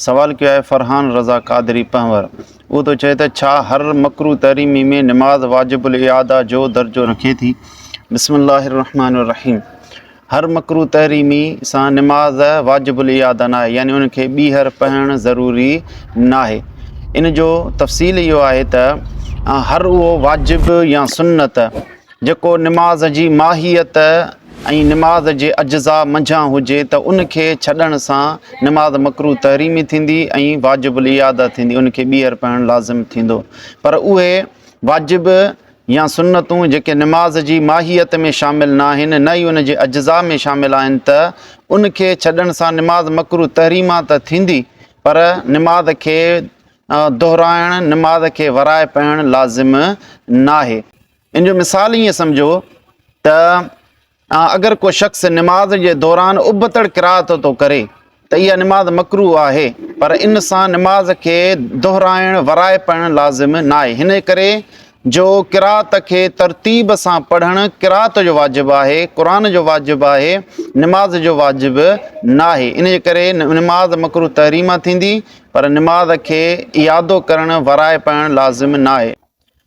سوال ڪيو آهي فرحان رضا قادري پنهور اهو ٿو چئي ته ڇا هر مڪروه تحريمي ۾ نماز واجب الاعاده جو درجو رکي ٿي بسم الله الرحمٰن الرحيم هر مڪروه تحريمي سان نماز واجب الاعاده ناهي يعني ان کي ٻيهر پهڻ ضروري ناهي ان جو تفصيل اهو آهي ته هر اهو واجب يا سنت جيڪو نماز جي ماهيت ۽ نماز جي اجزاء منجهان هجي ته ان کي ڇڏڻ سان نماز مڪروه تحريمي ٿيندي ۽ واجب الاعاده ٿيندي ان کي ٻيهر پڙهڻ لازم ٿيندو پر اهي واجب يا سنتون جيڪي نماز جي ماهيت ۾ شامل ناهن نه ئي ان جي اجزاء ۾ شامل آهن ته ان کي ڇڏڻ سان نماز مڪروه تحريما ته ٿيندي پر نماز کي دهرائڻ نماز کي ورائي پڙهڻ لازم ناهي. ان جو مثال ائين سمجهو ته اگر ڪو شخص نماز جي دوران ابتڙ قرات ٿو ڪري ته اها نماز مڪرو آهي پر ان سان نماز کي دهرائڻ ورائي پڙهڻ لازم ناهي هن ڪري جو قرات کي ترتيب سان پڙهڻ قرات جو واجب آهي قرآن جو واجب آهي نماز جو واجب ناهي ان جي ڪري نماز مڪرو تحريمه ٿيندي پر نماز کي ايادو ڪرڻ ورائي پڙهڻ لازم ناهي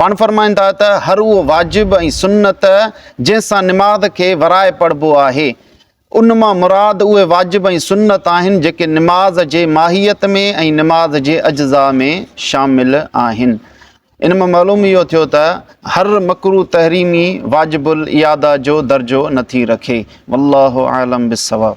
پاڻ فرمائن ٿا ته هر اهو واجب ۽ سنت جنهن سان نماز کي ورائي پڙهبو آهي، ان مان مراد اهي واجب ۽ سنت آهن جيڪي نماز جي ماهيت ۾ ۽ نماز جي اجزاء ۾ شامل آهن. ان مان معلوم اهو ٿيو ته هر مڪروه تحريمي واجب الاعاده جو درجو نٿي رکي. والله اعلم بالصواب.